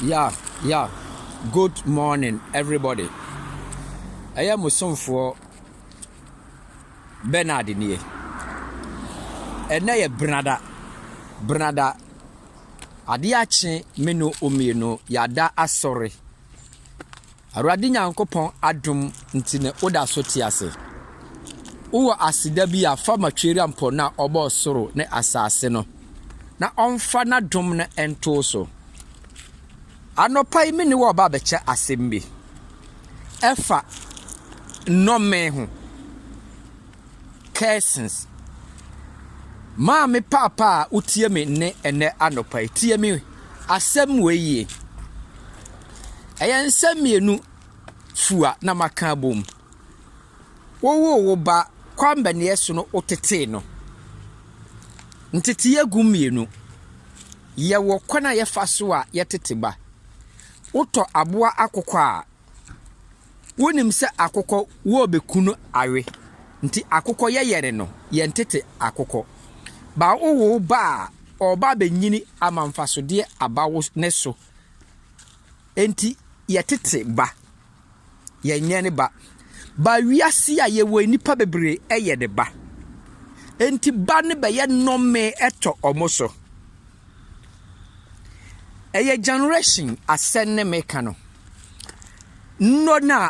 Yeah yeah good morning everybody ɛyɛ mo somfoɔ Bernard nie ɛnɛ yɛ benada benada adeɛ akye me no mmienu yɛada asɔre Awurade Nyankopɔn adom nti na woda so te ase. Wowɔ aseda bi a fa ma Tweerampɔn no a ɔbɔɔ soro ne asase no, na ɔmfa n'adom no nto wo so. Anɔpa yi me ne wo reba abɛkyɛ asɛm bi. Ɛfa nnɔmee ho. Curses. Maame paapa a wotie me nne ɛnnɛ anɔpa yi, tie me asɛm wei yie. Ɛyɛ nsɛm mmienu fua na maka abom. Wowoo wo ba kwambɛneɛ so no wotetee no. Nteteeɛ gu mmienu. Yɛwɔ kwan a yɛfa so a yɛtete ba. Wotɔ aboa akokɔ a, Wonim sɛ akokɔ wɔɔbɛku no awe nti akokɔ yɛyɛre no yɛn tete akokɔ. Ba wo wo ba a ɔɔba abɛnyini ama mfasodeɛ aba wo ne so nti yɛ tete ba yɛn nyɛ ne ba. Ba wiase a yɛwɔ yi nipa bebree ɛyɛ ne ba nti ba no bɛyɛ nɔmee ɛtɔ ɔmo so. Ɛyɛ gyɛnerehyin asɛm ne meka no. Nnɔ no a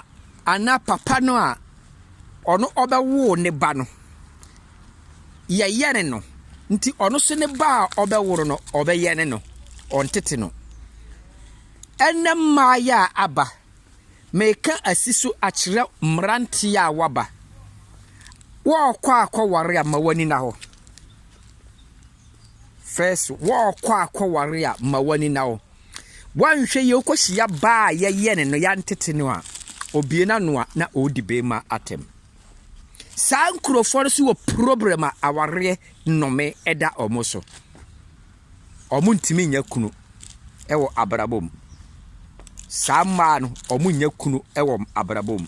anaa papa no a ɔno ɔbɛwoo ne ba no, yɛyɛne no. Nti ɔno nso ne ba a ɔbɛwo no no, ɔbɛyɛne no, ɔntete no. Ɛnnɛ mmaayɛ a aba, meka asi so akyerɛ mmeranteɛ a wɔaba. Wɔɔkɔ akɔware a ma w'ani nna hɔ. First, wɔɔkɔ akɔware a ma w'ani na wo. Woanhwɛ yie wokɔ hyia baa a yɛyɛ ne no yɛantete no a, obie n'ano a na ɔredi beema atɛm. Saa nkurɔfoɔ no so wɔ problem a awareɛ nnome ɛda wɔn so. Wɔn ntumi nya kunu ɛwɔ abrabɔ mu. Saa mmaa no wɔn nya kunu ɛwɔ abrabɔ mu.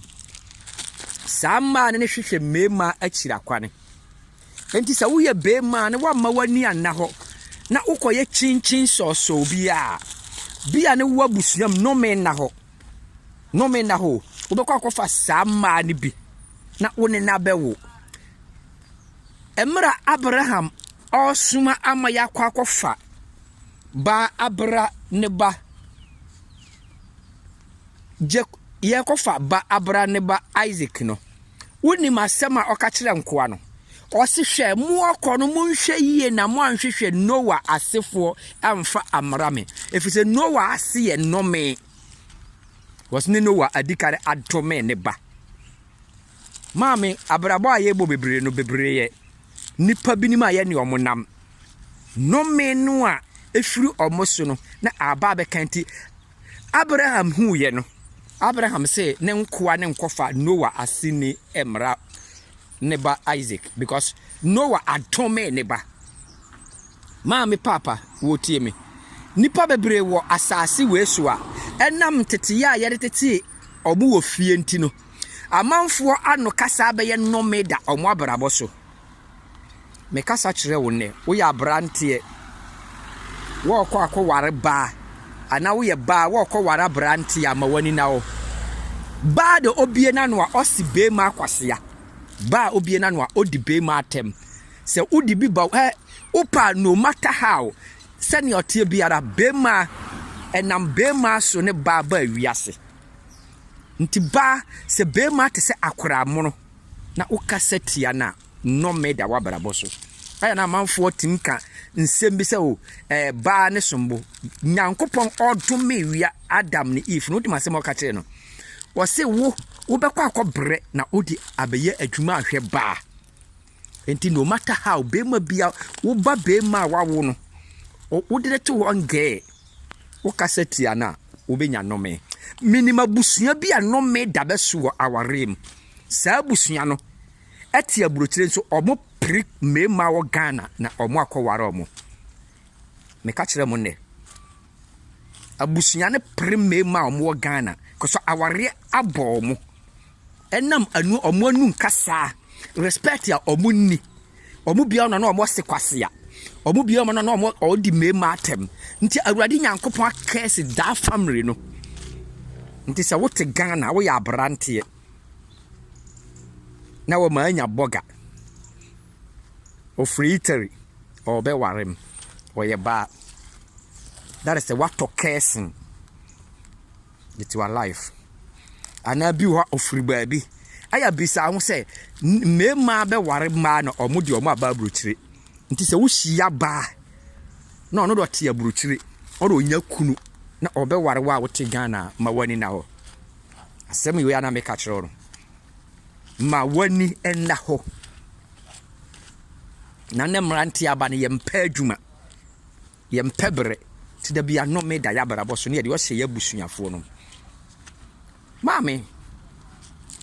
Saa mmaa no ne hwehwɛ mmeema akyiri akwane. Enti sɛ woyɛ beema na woamma w'ani anna hɔ na wokɔyɛ kyinkyin sɔɔsɔɔ bi a, bia ne w'abusua mu nnome nna hɔ. Nnome nna hɔ o. Wobɛkɔ akɔfa saa mmaa no bi na wo ne no abɛwo. Mmerɛ Abraham ɔresoma ama yɛakɔ akɔfa baa abera ne ba, Gyek, Yɛrekɔfa ba Abraham ne ba Isak no, wonim asɛm a ɔka kyerɛɛ nkoa no? Ɔse, Hwɛ, moɔkɔ no, monhwɛ yie na moanhwehwɛ Noa asefoɔ amfa ammra me, ɛfiri sɛ Noa ase yɛ nnome, wɔse ne Noa adi kan adome ne ba. Maame, abrabɔ a yɛbɔ bebree no, bebreeɛ. Nnipa binom a yɛne wɔn nam, nnome no a ɛfiri wɔn so no na aba abɛka nti, Abraham huuiɛ no, Abraham see ne nkoa no nkɔfa Noa aseni mmra ne ba Isaac because Noa adome ne ba. Maame Paapa, wotie me? Nnipa bebree wɔ asase wei so a, ɛnam nteteyɛ a yɛde tetee wɔn wɔ fie nti no, amanfoɔ ano kasa abɛyɛ nnome da wɔn abrabɔ so. mekasa kyerɛ wo nnɛ, woyɛ aberanteɛ, worekɔ akɔware baa, anaa woyɛ baa worekɔware aberanteɛ a, ma w'ani na hɔ. Baa de obie n'ano a, ɔsi beema akwasea. Baa obie n'ano a, odi beema atɛm. Sɛ wode bi ba, ɛ, wopa no matter how, sɛnea ɔteɛ biara, beema, ɛnam beema so ne baa baa wiase. Nti baa, sɛ beema te sɛ akoraa mono. Na wo kasa tia na nnɔme da w'abrabɔ so. Ayɛ na amanfoɔ tumi ka nsɛm bi sɛ o ɛɛ baa ne sombo. Nyankopɔn ɔdome wia Adam ne Eve no wodim asɛm a ɔka kyerɛ no. Ɔse wo wobɛkɔ akɔ brɛ na wode abɛyɛ adwuma ahwɛ baa. Enti no matter how bɛrima bia woba bɛrima a wawo no wode no to hɔ ngɛɛ wo kasa tia no a wobɛnya nnɔme. Menim abusua bi a nnɔme da bɛso wɔ awareɛ mu. Saa abusua no te aburokyire nso ɔmo pere mmarima wɔ Ghana na ɔmo akɔ ware ɔmo. Meka kyerɛ mo nnɛ, abusua no pere mmarima a ɔmo wɔ Ghana kɔs awareɛ abɔ ɔmo. Ɛnam anu ɔmo anu nkasaa, respect a ɔmo nni. Ɔmo bia ɔno na ɔmo ɔse kwasea. Ɔmo bia ɔmo no na ɔmo ɔdi mmarima atɛm. Nti Awurade Nyankopɔn akɛse daa family no. Nti sɛ wote Ghana woyɛ abranteɛ na wɔma anya bɔga. Ɔfiri Italy, ɔrebɛware me, ɔyɛ baa. That is sɛ woatɔ cursing with your life. Anaa bi wɔ hɔ a ɔfiri baabi. Ɛyɛ bisa ho sɛ mmarima bɛware mmaa na wɔn deɛ wɔn aba aburokyire. Nti sɛ wohyia baa na ɔno deɛ ɔte aburokyire, ɔno deɛ ɔnya kunu na ɔbɛware wo a wote Ghana a, ma w'ani nna hɔ. Asɛm wei a na meka kyerɛ wo no, ma w'ani nna hɔ. Na ne mmeranteɛ aba no, yɛmpɛ adwuma, yɛmpɛ berɛ, nti da bi anome da yɛ abrabɔ so ne yɛde ɔhyɛ yɛ abusuafoɔ no mu. Maame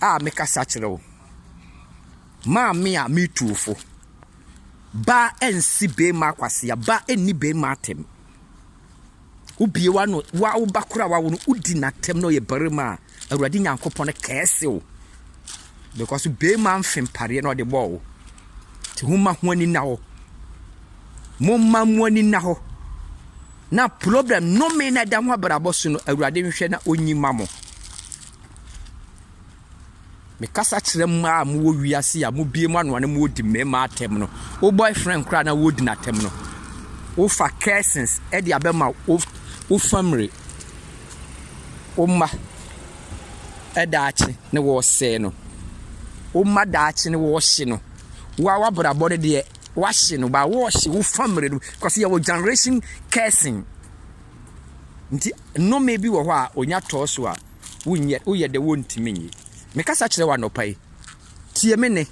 a mekasa kyerɛ wo, maame a metu wo fo, ba nsi beema akwasea, ba nni beema atɛm. Wobue w'ano, wo ara wo ba koro a woawo no, wodi n'atɛm na ɔyɛ barima a, Awurade Nyankopɔn kɛɛse wo, because wobeema mfe mpareɛ na ɔde bɔɔ wo. Nti homma ho ani nna hɔ. Momma mo ani nna hɔ. Na problem, nnome na ɛda ho abrabɔ so no, Awurade nhwɛ na ɔnyi ma mo. Mekasa kyerɛ mmaa a mowɔ wiase yi a mobue mo ano a na moredi mmarima atɛm no. Wo boyfriend koraa na woredi n'atɛm no. Wofa cursings de abɛma wo wo family, wo mma daakye ne wɔresɛe no. Wo mma daakye ne wɔrehye no. Wo a w'abrabɔ no deɛ wahye no ba wɔrehye wo family no because yɛwɔ generation cursing. Nti nnome bi wɔ hɔ a onya tɔɔ so a wonyɛ, woyɛ dɛ wontumi nnye. Mekasa kyerɛ wo anɔpa yi, tie me nne,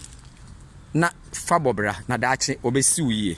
na fa bɔ bra, na daakye wɔbɛsi wo yie.